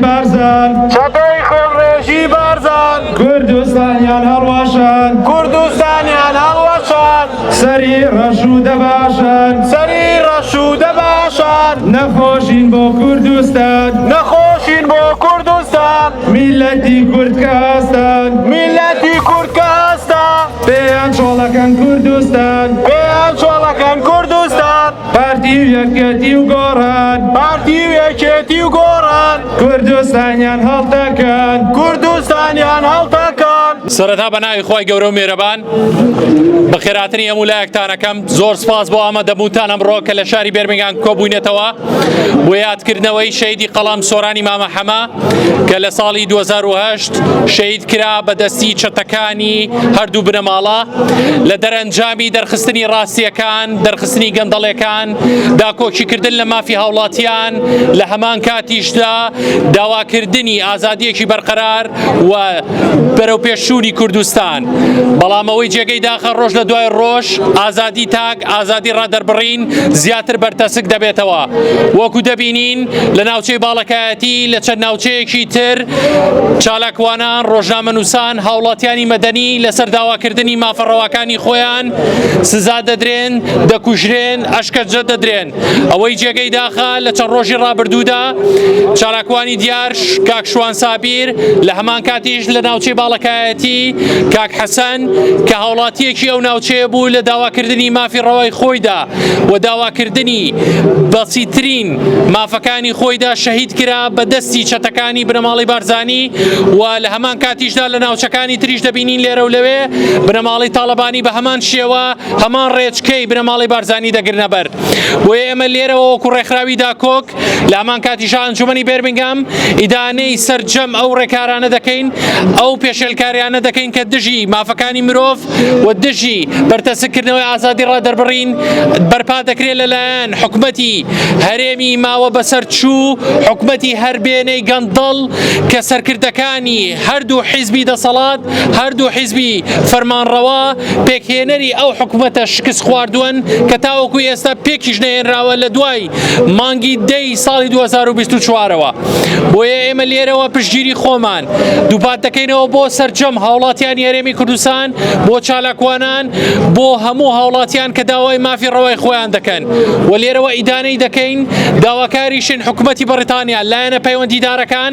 بارزان چەپەی خۆڕێژی بارزان کوردستانیان هەڵواشان کوردستانیان هەڵوەشان سەری ڕەشوو دەباشن سەری ڕەشوو دەباشان نەخۆشین بۆ کوردستان نەخۆشین بۆ کوردستان میلەتی کورد کە هەستان میلەتی کورد کە هەستا پێیان چۆڵەکەن کوردستان پێیان چۆڵەکەن کوردستان پارتی و یەکێتی و گۆڕان پارتی و یەکێتی و گۆڕان کوردستانیان هەڵتەکەن کوردستانیان هەڵتەکەن سەرەتا بە ناوی خی گەورە و مێرەبان بەخێراتنی هەموو لایەکتانەکەم زۆر سپاس بۆ ئامادەبوونتان ئەمڕۆ کە لە شاری بێرمنگان کۆبووینەتەوە بۆ یادکردنەوەی شەیدی قەڵەم سۆرانی مامە حەمە کە لە ساڵی 2010 شەید کرا بە دەستی چەتەکانی هەردوو بنەماڵە لە دەرەنجامی دەرخستنی ڕاستیەکان دەرخستنی گەندەڵەکان داکۆکیکردن لە مافی هاوڵاتیان لە هەمان کاتیشدا داواکردنی ئازادیەکی بەرقەرار و بەرەوپێشچوونی کوردستان. بەڵام ئەوەی جێگەی داخە ڕۆژ لە دوای ڕۆژ ئازادی تاک ئازادی ڕادەربڕین زیاتر بەرتەسک دەبێتەوە وەکو دەبینین لە ناوچەی باڵەکایەتی لە چەند ناوچەیەکی تر چالاکوانان ڕۆژنامە نووسان هاوڵاتیانی مەدەنی لەسەر داواکردنی مافەڕەواکانی خۆیان سزا دەدرێن دەکوژرێن ئەشکەنجە دەدرێن. ئەوەی جێگەی داخە لە چەند ڕۆژی ڕابردوودا چالاکوانی دیارش کاک شوان سابیر لە هەمان کاتیش لە ناوچەی باڵەکایەتی کاک حەسەن کە هاوڵاتیەکی ئەو ناوچەیە بوو لە داواکردنی مافی ڕەوای خۆیدا و داواکردنی بەسیترین مافەکانی خۆیدا شەهید کرا بە دەستی چەتەکانی بنەماڵی بارزانی و لە هەمان کاتیشدا لە ناوچەکانی تریش دەبینین لێرە و لەوێ بنەماڵی تاالبانی بە هەمان شێوە هەمان ڕێچکەی بنەماڵەی بارزانی دەگرنە بەر بۆیە ئێمە لێرەوە وەکو ڕێکخراوی داکۆک لە هەمان کاتیشا ئەنجومنی بێرمنگام ئیدانەی سەرجەم ئەو ڕێکارانە دەکەین ئەو پێشێلکاریانە دەکەین کە دژی مافەکانی مرۆڤ و دژی بەرتەسکردنەوەی ئازادی ڕادەربڕین بەرپا دەکرێت لەلایەن حکومەتی هەرێمی ماوە بەسەر چوو حکومەتی هەربێنەی گەندەڵ کە سەرکردەکانی هەردوو حیزبی دەسەڵات هەردوو حیزبی فەرمانڕەوە پێکهێنەری ئەو حکومەتە شکست خواردوەن کە تاوەکو ئێستا پێکیش نەهێنراوە لە دوای مانگی دەی ساڵی 2024ەوە بۆیە ئێمە لێرەوە پشگیری خۆمان دووپات دەکەینەوە بۆ سەرجەم هاوڵاتیان یارێمی کوردستان بۆ چالاکوانان بۆ هەموو هاوڵاتیان کە داوای مافی ڕەوای خۆیان دەکەن و لێرەوە ئیدانەی دەکەین داواکاریشن حکومەتی بەڕیتانیا لایەنە پەیوەندیدارەکان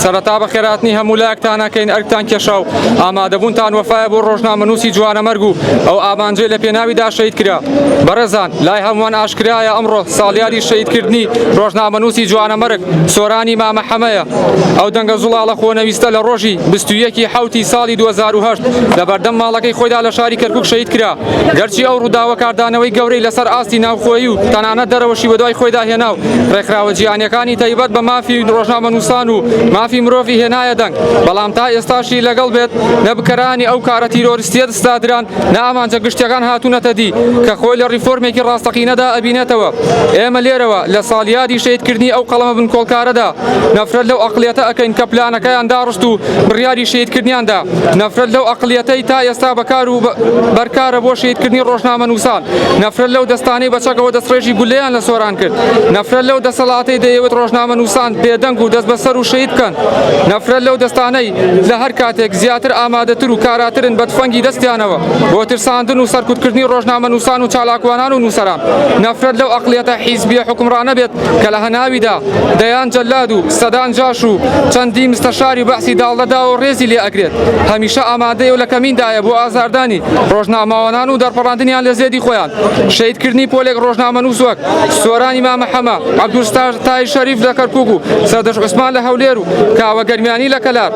سەرەتا بەخێرهاتنی هەموو لایەکتان ئەکەین، ئەرکتان کێشا و ئامادەبوونتان وەفایە بۆ ڕۆژنامەنووسی جوانەمەرگ و ئەو ئامانجەی لە پێناویدا شەهید کرا. بەڕێزان، لای هەمووان ئاشکرایە ئەمڕۆ ساڵیادی شەهیدکردنی ڕۆژنامەنووسی جوانەمەرگ سۆرانی مامە حەمەیە. ئەو دەنگە زوڵاڵە خۆنەویستە لە ڕۆژی بیست و یەک ی حەوتی ساڵی دوو هەزار و هەشت لەبەردەم ماڵەکەی خۆیدا لە شاری کەرکووک شەهید کرا. گەرچی ئەو ڕووداوە کاردانەوەی گەورەی لەسەر ئاستی ناوخۆیی و تەنانەت دەرەوەشی بەدوای خۆیدا هێنا و ڕێکخراوە جیهانییەکانی بەشی تایبەت بە مافی ڕۆژنامەنووسان و مافی مرۆڤی هێنایە دەنگ، بەڵام تا ئێستاشی لەگەڵ بێت نە بکەرانی ئەو کارە تیرۆریستییە دستادران نە ئامانجە گشتییەکان هاتوونەتە دی کە خۆی لە ڕیفۆرمێکی ڕاستەقینەدا ئەبینێتەوە. ئێمە لێرەوە لە ساڵیادی شەهیدکردنی ئەو قەڵەمە بنکۆڵکارەدا نەفرەت لەو ئەقڵیەتە ئەکەین کە پلانەکەیان داڕشت و بڕیاری شەهیدکردنیان دا، نەفرەت لەو ئەقڵیەتەی تا ئێستا بەکار و بەرکارە بۆ شەهیدکردنی ڕۆژنامەنووسان. نەفرەت لەو دەستانەی بە چەکەوە دەستڕێژی گولەیان لە سۆران کرد نەفرەت لەو دەسەڵاتەی دەیەوێت ڕۆژنامە نووسان بێدەنگ و دەست بەسەر و شەید بکەن نەفرەت لەو دەستانەی لە هەر کاتێک زیاتر ئامادەتر و کاراترن بە تفەنگی دەستیانەوە بۆ ترساندن و سەرکوتکردنی ڕۆژنامە نووسان و چالاکوانان و نووسەران نەفرەت لەو ئەقلیەتە حیزبیە حکمڕانە بێت کە لە هەناویدا دەیان جەلاد و سەدان جاش و چەندی مستەشاری بەعسی داڵدەداوە و ڕێزی لێ ئەگرێت هەمیشە ئامادەیە و لە کەمیندایە بۆ ئازاردانی ڕۆژنامەوانان و دەرپەڕاندنیان لە زێدی خۆیان شەیدکردنی پۆلێک ڕۆژنامەنووس وەک سۆرانی مامە حەمە عەبدولستاژ تای شەریف لە کەرکوک و سەردەش عوسمان لە هەولێر و کاوە گەرمیانی لە کەلار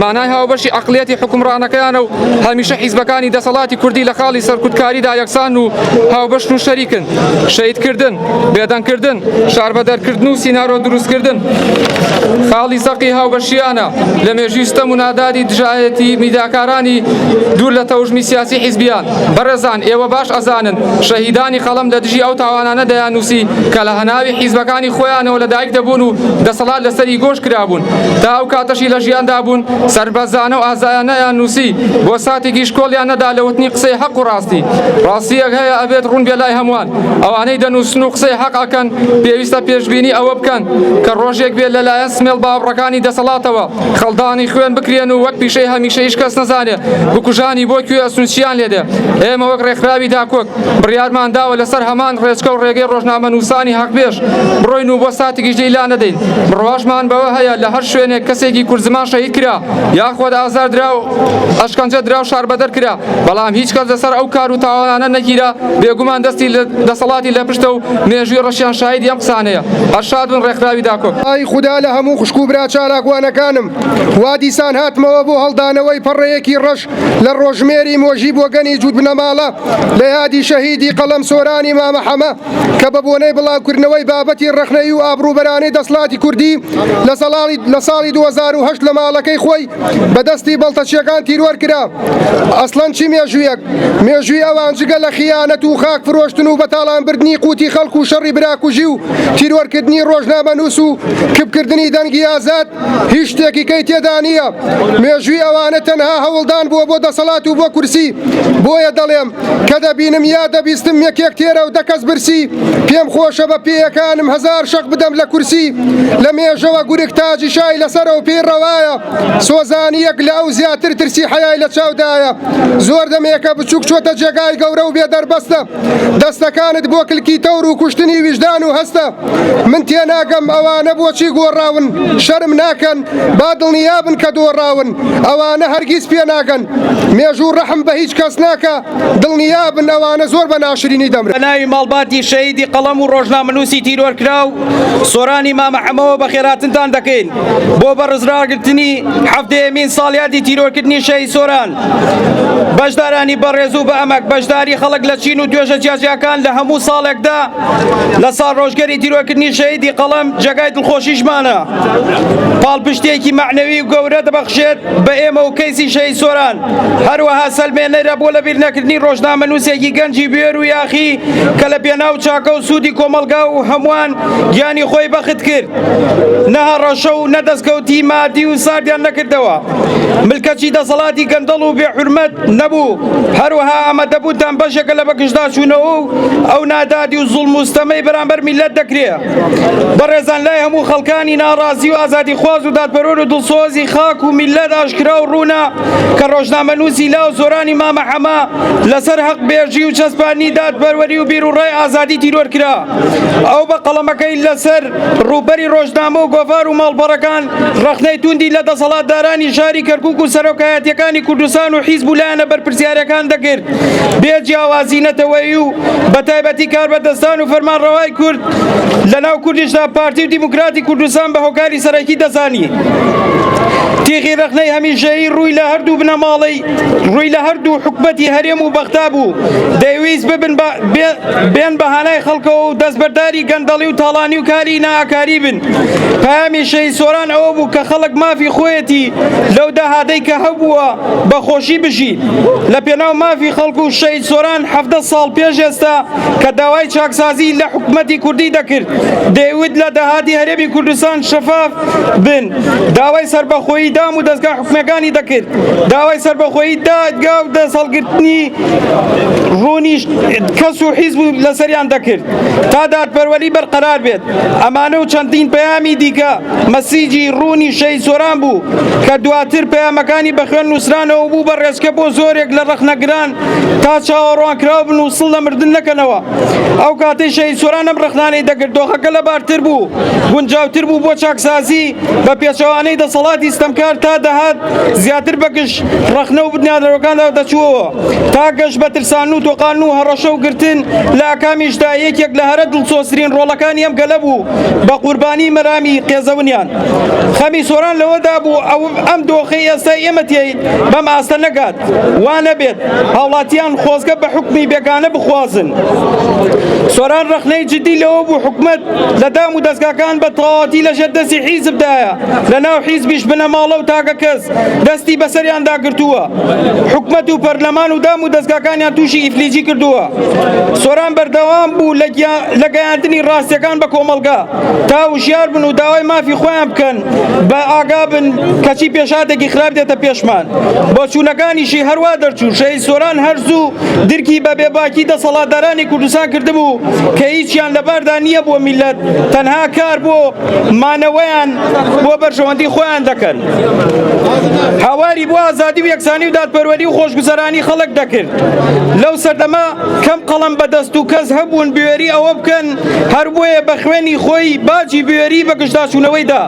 مانای هاوبەشی عقلیەتی حکومڕانەکەیانە و هەمیشە حیزبەکانی دەسەڵاتی کوردی لە خاڵی سەرکوتکاریدا یەکسان و هاوبەشن و شەریکن شەیدکردن بێدەنگکردن، شاربەدەرکردن و سینارۆ دروستکردن خاڵی زەقی هاوبەشییانە لە مێژووی ستەم و نادادی دژایەتی میدیاکارانی دوور لە تەوژمی سیاسی حیزبییان. بەڕێزان ئێوە باش ئەزانن شەهیدانی قەڵەم لە دژی ئەو تاوانانە دەیاننووسی کە لە هەناوی حیزبەکانی خۆیانەوە لە دایک دەبوون و دەسەڵات لەسەری گۆش کرابوون تا ئەو کاتەشی لە ژیاندا بوون سەربەرزانە و ئازایانەیان نووسی بۆ ساتێکیش کۆڵیان نەدا لە وتنی قسەی حەق و ڕاستی. ڕاستییەک هەیە ئەبێت ڕوون بێ لای هەمووان. ئەوانەی دەنووسن و قسەی حەق ئەکەن پێویستە پێشبینی ئەوە بکەن کە ڕۆژێک بێت لەلایەن سمێڵ باوڕەکانی دەسەڵاتەوە خەڵدانی خوێن بکرێن و وەک پیشەی هەمیشە هیچ کەس نەزانێ بکوژانی بۆ کوێ ئەسون چیان لێدێ ئێمە وەک ڕێکخراوی داکۆک بڕیارمان داوە لەسەر هەمان ڕێچکە و ڕێگەی ڕۆژنامە نووسانی حەقبێژ بڕۆین و بۆ ساتێکیش لێی لا نەدەین بڕواشمان بەوە هەیە لە هەر شوێنێک کەسێکی کورد زمان شەهید کرا یاخود ئازار درا و ئەشکەنجە درا و شاربەدەر کرا بەڵام هیچ کەس لەسەر ئەو کار و تاوانانە نەگیرا بێگومان دەستی دەسەڵاتی لە پشتە و مێژوی ڕەشیان شایدی ئەم قسانەیە ئەرشاد بن ڕێکخراوی داکۆ. ئای خودا لە هەموو خوشک و برا چالاکوانەکانم وا دیسان هاتمەوە بۆ هەڵدانەوەی پەڕەیەکی ڕەش لە ڕۆژژمێری مۆژی بۆگەنی جووت بنەماڵە لە یادی شەهیدی قەڵەم سۆرانی مامە حەمە کە بە بۆنەی بڵاوکردنەوەی بابەتی ڕەخنەیی و ئابڕووبەرانەی دەسڵاتی کوردی لە سەڵاڵی لە ساڵی دوو هەزار و هەشت لە ماڵەکەی خۆی بەدەستی بەڵتەچیەکان تیرۆر کرا ئەسڵەن چی مێژوویەک مێژووی ئەوان جگە لە خیانەت و خاک فرۆشتن و بەتاڵان بردنی قوتی خەڵک و شەڕی براکوژی و تیرۆرکردنی ڕۆژنامە نووس و کپکردنی دەنگی ئازاد هیچ شتێکی کەی تێدا نییە مێژووی ئەوانە تەنها هەوڵدان بووە بۆ دەسەڵات و بۆ کورسی بۆیە دەڵێم کە دەبینم یا دەبیستم یەکێک تێرە و دەکەس برسی پێم خۆشە بە پێیەکانم هزار شەق بدەم لە کورسی لە مێژەوە گورک تاجی شای لەسەر و پێی ڕەوایە سۆزانیەک لە ئەو زیاتر ترسی حەیای لە چاودایە زۆر دەمێکە بچووک چۆتە جێگای گەورە و بێ دەربەستە دەستەکانت بۆ کلکی تەور و کوشتنی ویژدان و هەستە من تێناگەم ئەوانە بۆچی گۆڕاون شەرم ناکەن با دڵنیا بن کە دۆڕاون ئەوانە هەرگیز پێناگەن مێژوو ڕەحم بە هیچ کەس ناکە دڵنیا بن ئەوانە زۆر بە ناشرینی دەمرن. ناوی ماڵباتی شەهیدی قەڵەم و ڕۆژنامەنووسی تیرۆرکراو سۆرانی مامە حەمەوە بەخێرهاتنتان دەکەین بۆ بەڕزراگرتنی حەڤدەیەمین ساڵیادی تیرۆرکردنی شەهید سۆران. بەشدارانی بەڕێز و بەئەمەک بەشداری خەڵک لە چین و توێژە جیاجیاکان لە هەموو ساڵێکدا لە ساڵڕۆژگەری تیرۆرکردنی شەهیدی قەڵەم جێگای دڵخۆشیشمانە. پاڵپشتییەکی مەعنەوی و گەورە دەبەخشێت بە ئێمە و کەیسی شەهید سۆران، هەروەها سەلمێنەرە بۆ لەبیرنەکردنی ڕۆژنامەنووسێکی گەنجی بوێر و یاخی کە لە پێناو چاکە و سوودی کۆمەڵگا و هەمووان گیانی خۆی بەخت کرد، نە هەڕەشە و نە دەستکەوتی مادی و ساردیان نەکردەوە. ملکەچی دەسەڵاتی گەندەڵ و بێ حورمەت نەبوو، هەروەها ئامادەبوونتان بەشێکە لە بەگژداچوونەوە و ئەو نادادی و زوڵم و ستەمەی بەرامبەر میللەت دەکرێ. بەڕێزان لای هەموو خەڵکانی ناڕازی و ئازادیخواز و دادپەرۆر و دڵسۆزی خاک و میللەت ئاشکرا و ڕوونە کە ڕۆژنامەنووسی لاو سۆرانی مامە حەمە لەسەر هەقبێژی و چەسپاندنی دادپەروەری و بیروڕای ئازادی تیرۆر کرا ئەو بە قەڵەمەکەی لەسەر ڕووبەری ڕۆژنامە و گۆڤار و ماڵپەڕەکان ڕەخنەی توندی لە دەسەڵاتدارانی شاری کەرکوک و سەرۆکایەتیەکانی کوردستان و حیزب و لایەنە بەرپرسیارەکان دەکرد بێ جیاوازی نەتەوەیی و بە تایبەتی کاربەدەستان و فەرمانڕەوای کورد لە ناو کوردیشدا پارتی و دیموکراتی کوردستان بە هۆکاری سەرەکی دەزانی. تیغی ڕەخنەی هەمیشەیی ڕووی لە هەردوو بنەماڵەی ڕووی لە هەردوو حکومەتی هەرێم و بەغدا بوو دەیویست ببن بێن بە هانای خەڵکەوە و دەستبەرداری بەرەی گەندەڵی و تاڵانی و کاری ناکاری بن پامی شەی سۆران ئەوە بوو کە خەڵک مافی خۆیەتی لەو داهاتەی کە هەبووە بەخۆشی بژی لە پێناو مافی خەڵک و شەی سۆران ه ساڵ پێش ئێستا کە داوای چاکسازی لە حکوومەتی کوردی دەکرد دەیوت لە داهاتی هەرێمی کوردستان شەفاف بن داوای سربەخۆیی دام و دەستگا حکومەکانی دەکرد داوای سربەخۆیی دادگا و دەسەڵگرتنی ڕوونیش کەس و حیزب لەسەریان دەکرد تا دادپەروەری بەرقەرار بێت. ئەمانە و چەندین پەیامی دیکە مەسیجی روونی شەهید سۆران بوو کە دواتر پەیامەکانی بە خوێن نووسرانەوە و بوو بە رێچکە بۆ زۆرێک لە رەخنەگران تا چاوەڕوانکراو بن و سڵ لە مردن نەکەنەوە. ئەو کاتەی شەهید سۆران ئەم رەخنانەی دەکرد دۆخەکە لەبارتر بوو، گونجاوتر بوو بۆ چاکسازی بە پێچەوانەی دەسەڵاتی ستەمکار تا دەهات زیاتر بە گژ رەخنە و بنیادنەرەکاندا دەچووەوە. تا گەشت بە ترسان و تۆقان و هەڕەشە و گرتن لە ئاکامیشدا یەکێک لە هەرە دڵسۆزترین ڕۆڵەکانی ئەم گەلە بوو بە قوربانی مەرامی قێزەونیان خەمی سۆران لەوەدا بوو ئەو ئەم دۆخی ئێستا ئێمە تێی بەم ئاستە نەگات وا نەبێت هاوڵاتیان خۆزگە بە حکومی بێگانە بخوازن سۆران ڕخنەی جدی لەوە بوو حکومت لە دام و دەستگاکان بە تەواتی لە ژێر دەستی حیزبدایە لە ناو حیزبیش بنەماڵە و تاکە کەس دەستی بەسەریاندا گرتووە حکومت و پەرلەمان و دام و دەستگاکانیان تووشی ئیفلیجی کردووە سۆران بەردەوام بوو لە گەیاندنی ڕاستیەکان بە کۆمەلگا تا وشیار بن و داوای مافی خۆیان بکەن بە ئاگا بن کەچی پێشاتێکی خراپ دێتە پێشمان بۆ چوونەکانیشی هەروە دەرچوو شەی سۆران هەرزوو درکی بە بێباکی دەسەڵاتدارانی کوردستان کردبوو کە هیچیان لەباردا نییە بۆ میلەت تەنها کار بۆ مانەوەیان بۆ بەرژەوەندی خۆیان دەکەن هاواری بۆ ئازادی و یەکسانی و دادپەروەری و خۆشگوزەرانی خەڵک دەکرد لەو سەردەما کەم قەڵم بەدەست و کەس هەبوون بوێری ئەوە بکەن هەر بۆیە بە خوێنی خۆی باجی بوێری بە گشتداچوونەوەیدا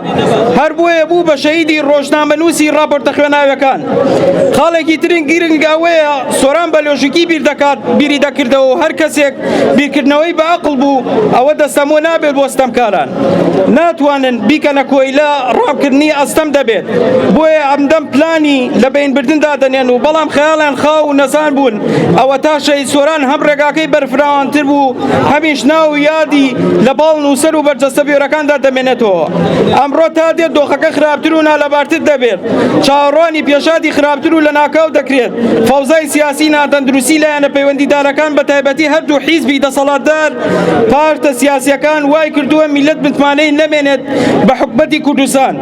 هەر بۆیە بوو بە شەیدی ڕۆژنامەنووسی ڕاپۆرتە خوێناوەکان خاڵێکی ترین گرنگ ئەوەیە سۆران بە لۆژیکی بیر دەکات بیری دەکردەوە هەر کەسێک بیرکردنەوەی بە ئەقڵ بوو ئەوە دەستەمۆ نابێت بۆ ستەمکاران ناتوانن بیکەنە کۆیلە ڕامکردنی ئەستەم دەبێت بۆیە ئەمدەم پلانی لە بینبردندا دەنێن و بەڵام خەیاڵیان خاو و نەزان بوون ئەوە تا شەهید سۆران هەم ڕێگاکەی بەرفراوانتر بوو هەمیش ناو و یادی لە باڵ نووسەر و بەرجەستە بێرەکاندا دەمێنێتەوە ئەمڕۆ تا دێت دۆخەکە خراپتر و نالەبارتر دەبێت چاوەڕوانی پێشاتی خراپتر و لە ناکاو دەکرێت فەوزای سیاسی ناتەندروستی لایەنە پەیوەندیدارەکان بە تایبەتی هەردوو حیزبی دەسەڵاتدار پارتە سیاسیەکان وای کردووە میلەت متمانەی نەمێنێت بە حکومەتی کوردستان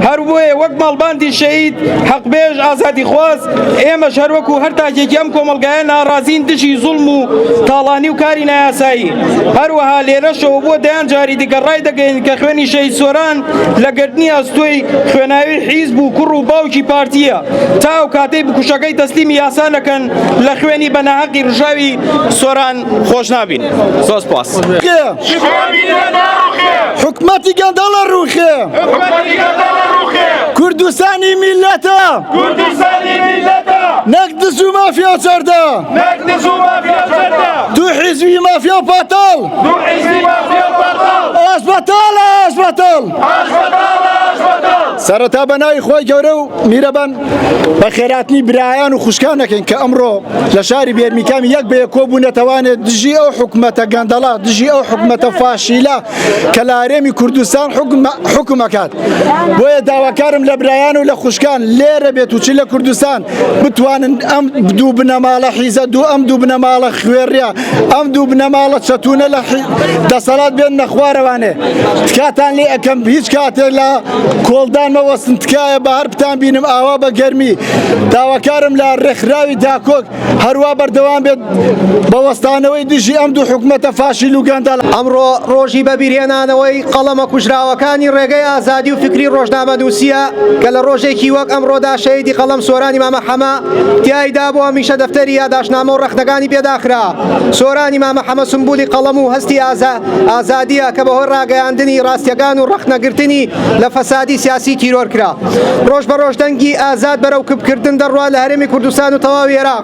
هەر بۆیە وەک ماڵباندی شەهید حەقبێژ ئازادیخواز ئێمەش هەروەکو هەر تاکێکی ئەم کۆمەڵگایە ناڕازین دژی زوڵم و تاڵانی و کاری نایاسایی هەروەها لێرەشەوە بۆ دەیان جاری دیکە ڕای دەگەین کە خوێنی شەهید سۆران لە گرتنی ئەستۆی خوێناوی حیزب و کوڕ و باوکی پارتییە تا ئەو کاتەی بکوژەکەی تەسلیمی یاسا نەکەن لە خوێنی بە ناهەقی ڕژاوی سۆران خۆش نابین زۆر سپاس. حکومەتی گەندەڵە ڕوخێ کوردستانی میلەتە نەک دز و مافیا و چەردە دوو حیزبی مافیا و پاتاڵ سەرەتا بە ناوی خۆی گەورە و میرەبان بە خێراتنی برایان و خوشکانەکەین کە ئەمڕۆ لە شاری بێرمیکام یەک بێ کۆبوونەتەوانێت دژی ئەو حکوومەتە گەندەڵا دژی ئەو حکوومەتە فاشیلا کە لە هەرێمی کوردستان حکومەکات بۆیە داواکارم لە برایان و لە خوشکان لێرە بێت و چ لە کوردستان بتوانن ئەم دوو بنەماڵە حیزە دوو ئەم دوو بنەماڵە خوێڕە ئەم دوو بنەماڵە چەتونە لە دەسەڵات بێن نەخوارەوانێ تکاتان لێ ئەەکەم هیچ کاتێ لە کۆڵدان مەوەستن تکایە بە هەر بتان بینم ئاوا بە گەرمی داواکارم لە ڕێکخراوی داکۆک هەروە بەردەوام بێت بە وەستانەوەی دژی ئەم دوو حکومەتە فاشیل و گەندەڵە. ئەمڕۆ ڕۆژی بەبیرهێنانەوەی قەڵەمە کوژراوەکانی ڕێگەی ئازادی و فکری ڕۆژنامەنووسییە کە لە ڕۆژێکی وەک ئەمڕۆدا شەهیدی قەڵەم سۆرانی مامە حەمە تیایدا بۆ هەمیشە دەفتەری یاداشتنامە و ڕەخنەکانی پێ داخرا. سۆرانی مامە حەمە سمبولی قەڵەم و هەستی ئازادییە کە بەهۆی ڕاگەیاندنی ڕاستییەکان و ڕەخنەگرتنی لە فەسادی سیاسی تیرۆر کرا. ڕۆژ بە ڕۆژ دەنگی ئازاد بەرەو کپکردن دەڕوات لە هەرێمی کوردستان و تەواوی عێراق.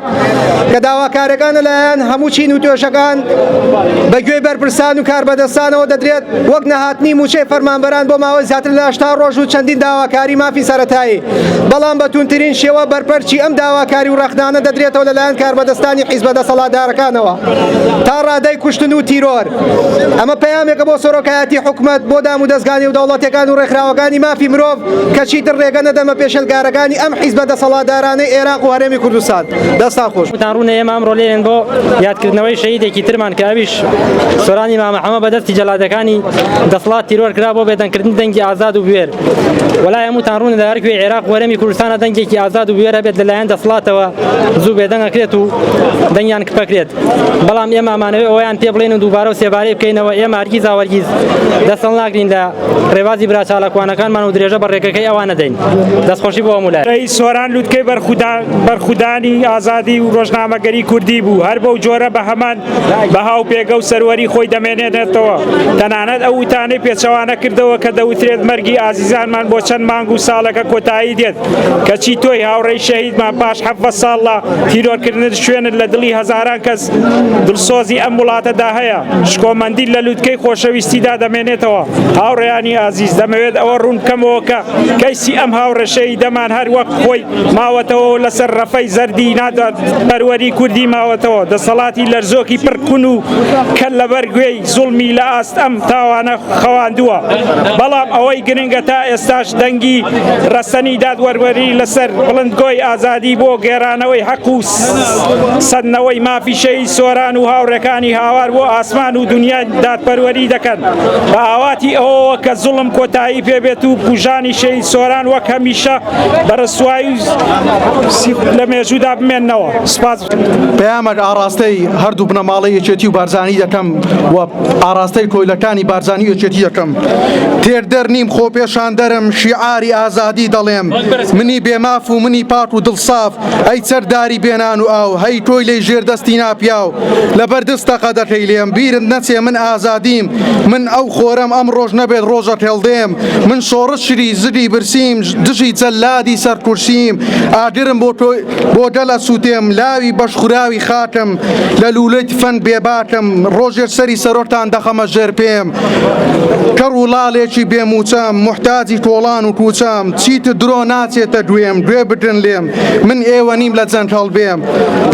کە داواکارەکان لەلایەن هەموو چین و توێژەکان بە گوێی بەرپرسان و کاربەدەستانەوە دەدرێت وەک نەهاتنی موچەی فەرمانبەران بۆ ماوەی زیاتر لە هەشتا ڕۆژ و چەندین داواکاری مافی سەتایی بەڵام بە توندترین شێوە بەرپەرچی ئەم داواکاری و ڕەخنانە دەدرێتەوە لەلایەن کاربەدەستانی حیزبە دەسەڵاتدارەکانەوە تا ڕادەی کوشتن و تیرۆر ئەمە پەیامێکە بۆ سۆرۆکایەتی حکومت بۆ دام و دەستگانی و دەوڵەتەکان و ڕێکخراوەکانی مافی مرۆڤ کەچی دڕێگە نەدەمە پێشلگارەکانی ئەم حیزبە دەسەڵاتدارانەی عێراق و هەرێمی گەلی کوردستان دەستان خۆش تان ڕوونە ئێمە ئەمڕۆ لێن بۆ یادکردنەوەی شەیدێکی ترمان کە ئەویش سۆرانی مامەحەمە بەدەستی جەلادەکانی دەسڵات تیرۆر کرا بۆ بێدەنکردن دەنگی ئازاد و بوێر وەلا هەمووتان ڕوونە لە هەرکوێ عێراق وەرەمی کوردستانە دەنگێکی ئازاد و بوێرە بێت لەلایەن دەسڵاتەوە زوو بێدەنگەکرێت و دەنگیان کپەکرێت بەڵام ئێمە ئەمانەوەی ئەویان پێ بڵێن و دووبارە و سێبارەی بکەینەوە ئێمە هەرگیز ئاوەرگیز دەسەڵ ناگرین لە ڕێبازی برا چالاکوانەکانمان و درێژە بە ڕێکەکەی ئەوان دەدەین. دەستخۆشی بۆ هەموو لایەک. ی سۆران لوتکەی بەرخودانی ئازادی و ڕۆژنامەگەری کوردی بوو، هەر بەو جۆرە بە هەمان بەها و پێگە و سەروەری خۆی دەمێنێتەوە. تەنانەت ئەو وتانەی پێچەوانە کردەوە کە دەوترێت مەرگی ئازیزانمان بۆ چەند مانگ و ساڵێکە کۆتایی دێت، کەچی تۆی هاوڕێی شەهیدمان پاش حەڤدە ساڵ لە تیرۆرکردن شوێنت لە دڵی هەزاران کەس دڵسۆزی ئەم وڵاتەدا هەیە. شکۆمەندی لە لوتکەی خۆشەویستیدا دەمێنێتەوە. هاوڕێیانی ئازیز، دەمەوێت ئەوە ڕوون بکەمەوە کە کەیسی ئەم هاوڕێ شەهیدەمان هەر وەک خۆی ماوەتەوە و لەسەر ڕەفەی زەردی نادادپەروەری کوردی ماوەتەوە. دەسەڵاتی لەرزۆکی پڕ کون و کەل لەبەر گوێی زوڵمی لە ئاست ئەم تاوانە خەواندووە. بەڵام ئەوەی گرنگە تا ئێستاش دەنگی ڕەسەنی دادوەروەری لەسەر بڵندگۆی ئازادی بۆ گێرانەوەی حەق و سەندنەوەی مافی سۆران و هاوڕێکانی هاوار بۆ ئاسمان و دنیای دادپەروەری دەکەن بە ئاواتی ئەوەوە کە زوڵم کۆتایی پێبێت و کوژانی شەهید سۆران وەک هەمیشە بە ڕسوایی لە مێژوودا بمێنەوە سپاس پەیامەک ئاڕاستەی هەردوو بنەماڵەی یەکێتی و بارزانی دەکەم و ئاڕاستەی کۆیلەکانی بارزانی و یەکێتی دەکەم تێر دەر نیم خۆ پێشان دەرم شیعاری ئازادی دەڵێم منی بێماف و منی پاک و دڵساف ئەی چەکداری بێ نان و ئاو هەی کۆیلەی ژێر دەستی ناپیاو لەبەر دز تەقە دەکەی لێم بیرت نەچێ من ئازادیم من ئەو خۆرەم ئەم ڕۆژ نەبێت ڕۆژە هێڵدێم من شۆڕشری زگی برسیم دژی جەلادی سەر کورسیم ئاگرم بۆ تۆ بۆ گەل ئەسووتێم لاوی بەشخوراوی خاکم لە لوولەی تفەنگ بێباکم ڕۆژێک سەری سەرۆکتان دەخەمە ژێر پێم کەڕ و ڵاڵێکی بێ مووچەم موحتاجی کۆڵان و کووچەم چیتر درۆ ناچێتە گوێم گوێ بگرن لێم من ئێوە نیم لە جەنگ هەڵبێم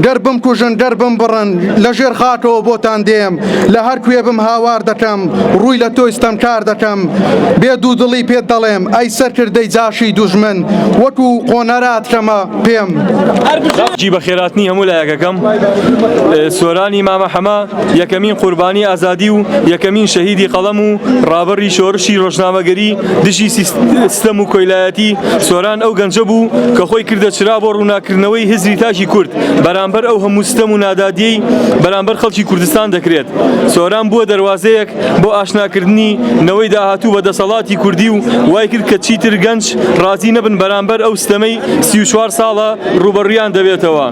گەر بمکوژن گەر بمبڕن لە ژێر خاکەوە بۆتان دێم لە هەر کوێ بم هاوار دەکەم ڕووی لە تۆی ستەمکار دەکەم بێ دوودڵی پێت دەڵێم ئەی سەرکردەی جاشی دوژمن وەکو قۆنەرات کەمە پێم. جی بەخێراتنی هەموو لایەکەکەم سۆرانی مامە حەمە. یەکەمین قوربانی ئازادی و یەکەمین شەهیدی قەڵەم و ڕابەڕی شۆرشی ڕۆژنامەگەری دژی ستەم و کۆیلایەتی سۆران ئەو گەنجە بوو کە خۆی کردە چرا بۆ ڕووناککردنەوەی هزری تاکی کورد بەرامبەر ئەو هەموو ستەم و نادادیەی بەرامبەر خەڵکی کوردستان دەکرێت سۆران بووە دەروازەیەک بۆ ئاشناکردنی نەوەی داهاتوو بە دەسەڵاتی کوردی و وای کرد کە چیتر گەنج ڕازی نەبن بەرامبەر ئەو ستەمەی سی و چوار ساڵە ڕووبەڕویان دەبێتەوە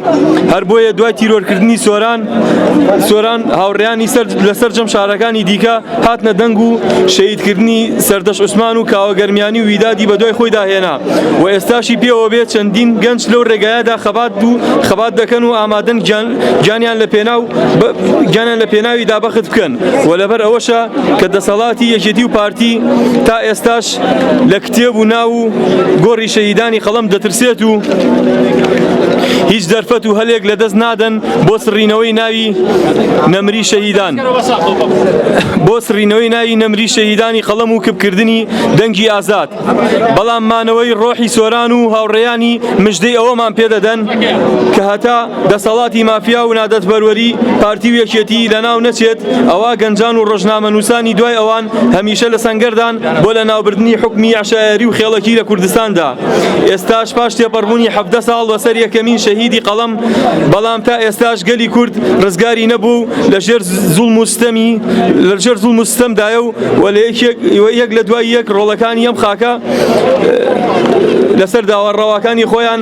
هەر بۆیە دوای تیرۆرکردنی سۆران سۆران هاوڕێیانی سەرد لە سەرجەم شارەکانی دیکە هاتنە دەنگ و شەیدکردنی سەردەش عوسمان و کاوە گەرمیانی و ویدادی بە دوای خۆیدا هێنا و ئێستاشی پێوە بێ چەندین گەنج لەو ڕێگایەدا خەبات و خەبات دەکەن و ئامادەن گیانیان لە پێناو گیانیان لە پێناویدا بەخت بکەن و لەبەر ئەوەشە کە دەسەڵاتی یەکێتی و پارتی تا ئێستاش کەس لە کتێب و ناو و گۆڕی شەهیدانی قەڵەم دەترسێت و هیچ دەرفەت و هەلێک لە دەست نادەن بۆ سڕینەوەی ناوی نەمری شەهیدان بۆ سڕینەوەی ناوی نەمری شەهیدانی قەڵەم و کپکردنی دەنگی ئازاد بەڵام مانەوەی ڕۆحی سۆران و هاوڕێیانی مژدەی ئەوەمان پێدەدەن کە هەتا دەسەڵاتی مافیا و نادەستبەروەری پارتی و یەکێتی لەناو نەچێت ئەوا گەنجان و ڕۆژنامەنووسانی دوای ئەوان هەمیشە لە سەنگەردان بۆ لەناوبردنی حوکمی عەشایەری و خێڵەکی لە کوردستاندا ئێستاش پاش تێپەڕبوونی حەڤدە ساڵ بەسەر یەکەمین شەهیدی قەڵەم بەڵام تا ئێستاش گەلی کورد ڕزگاری نەبوو و لەژێر زوڵم و ستەمی لەژێر زوڵم و ستەمدایە و و لە یەکێک و یەک لە دوای یەک ڕۆڵەکانی ئەم خاکە لەسەر داوا ڕەواکانی خۆیان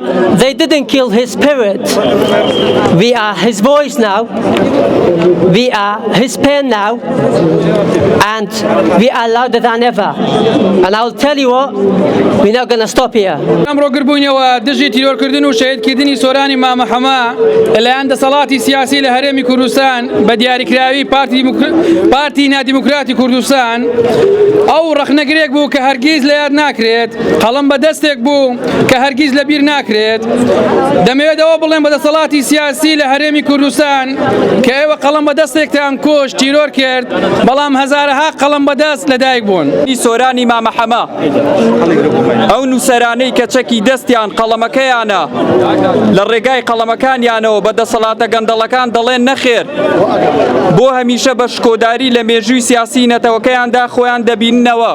They didn't kill his spirit. We are his voice now. We are his pen now. And we are louder than ever. And I will tell you what, we're not going to stop here. ئەمڕۆ گربوونەوە دژی تیرۆرکردن و شەهیدکردنی سۆرانی مامە حەما لەلایەن دەسەڵاتی سیاسی لە هەرێمی کوردستان بە دیاریکراوی پارتی دیموکر- پارتی نادیموکراتی کوردستان ئەو ڕەخنەگرێک بوو کە هەرگیز لە یاد ناکرێت قەڵم بە دەستێک بوو کە هەرگیز لە بیر ناکرێت دەمەوێت ئەوە بڵێن بە دەسەڵاتی سیاسی لە هەرێمی کوردستان کە ئێوە قەڵم بە دەستێکتان کۆش تیرۆر کرد بەڵام هەزارەها قەڵم بەدەست لەدایک بوون سۆرانی مامەحەمە ئەو نووسەرانەی کە چەکی دەستیان قەڵەمەکەیانە لە ڕێگای قەڵەمەکانیانەوە بە دەسەڵاتە گەندەڵەکان دەڵێن نەخێر بۆ هەمیشە بە شکۆداری لە مێژووی سیاسی نەتەوەکەیاندا خۆیان دەبیننەوە.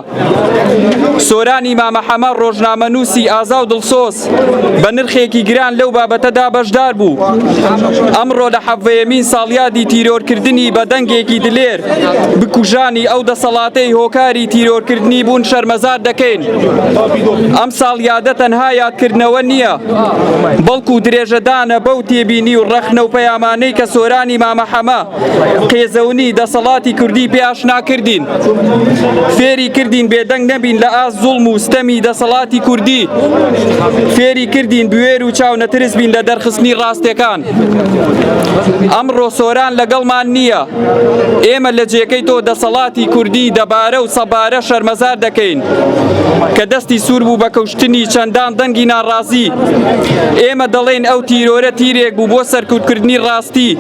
سۆرانی مامە حەمە ڕۆژنامەنووسی ئازا و دڵسۆز بە نرخێکی گران لەو بابەتەدا بەشدار بوو ئەمڕۆ لە حەڤەیەمین ساڵیادی تیرۆرکردنی بە دەنگێکی دلێر بکوژانی ئەو دەسەڵاتەی هۆکاری تیرۆرکردنی بوون شەرمەزار دەکەین ئەم ساڵیادە تەنها یادکردنەوە نییە بەڵکو درێژەدانە بەو تێبینی و ڕەخنە و پەیامانەی کە سۆرانی مامە حەمە قێزەونی دەسەڵاتی کوردی پێ ئاشنا کردین فێری کردین بێدەنگ نەبین لە ئاست زوڵم و ستەمی دەسەڵاتی کوردی فێری کردین بوێر و چاو نەترس بین لە دەرخستنی ڕاستەکان ئەمڕۆ سۆران لەگەڵمان نییە ئێمە لە جێکەی تۆ دەسەڵاتی کوردی دەبارە و سەبارە شەرمەزار دەکەین کە دەستی سوور بوو بە کەوش کوشتنی چەندان دەنگی ناڕازی، ئێمە دەڵێین ئەو تیرۆرە تیرێک بوو بۆ سەرکوتکردنی ڕاستی،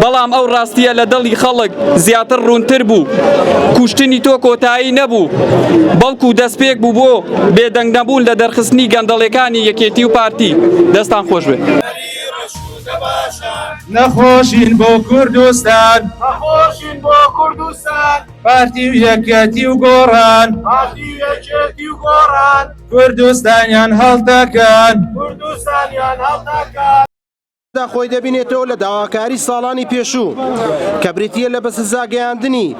بەڵام ئەو ڕاستییە لە دڵی خەڵک زیاتر ڕوونتر بوو. کوشتنی تۆ کۆتایی نەبوو، بەڵکو دەستپێک بوو بۆ بێدەنگنەبوون لە دەرخستنی گەندەڵیەکانی یەکێتی و پارتی. دەستتان خۆش بێت. پارتی و یەکێتی و گۆڕان پارتی و یەکێتی و گۆڕان کوردستانیان هەڵدەکەن کوردستانیان هەڵدەکەن دا خۆی دەبینێتەوە لە داواکاری ساڵانی پێشوو کە بریتە لە بەسزاگەیاندنی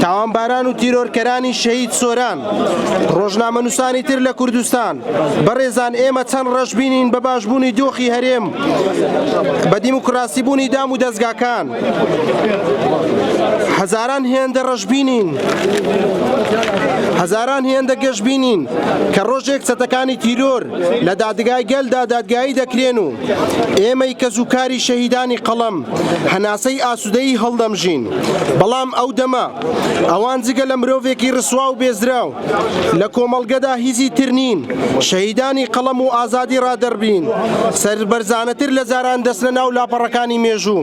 تاوانباران و تیرۆرکەرانی شەهید سۆران ڕۆژنامە نووسانی تر لە کوردستان بەڕێزان ئێمە چەند ڕەشببینین بە باشبوونی دۆخی هەرێم بە دیموکراسی بوونی دام و دەستگاکان هەزاران هێندە ڕەشبینین هەزاران هێندە گەشببینین کە ڕۆژێک چەتەکانی تیرۆر لە دادگای گەلدا دادگایی دەکرێن و ئێمەی کە زووکاری شەهیدانی قەڵەم هەناسەی ئاسوودەی هەڵدەمژین بەڵام ئەو دەمە ئەوان جگە لە مرۆڤێکی ڕسوا و بێزراو لە کۆمەڵگەدا هیزی تر نین شەهیدانی قەڵەم و ئازادی ڕادەربرین سەربەرزانەتر لە جاران دەچنە ناو لاپەڕەکانی مێژوو.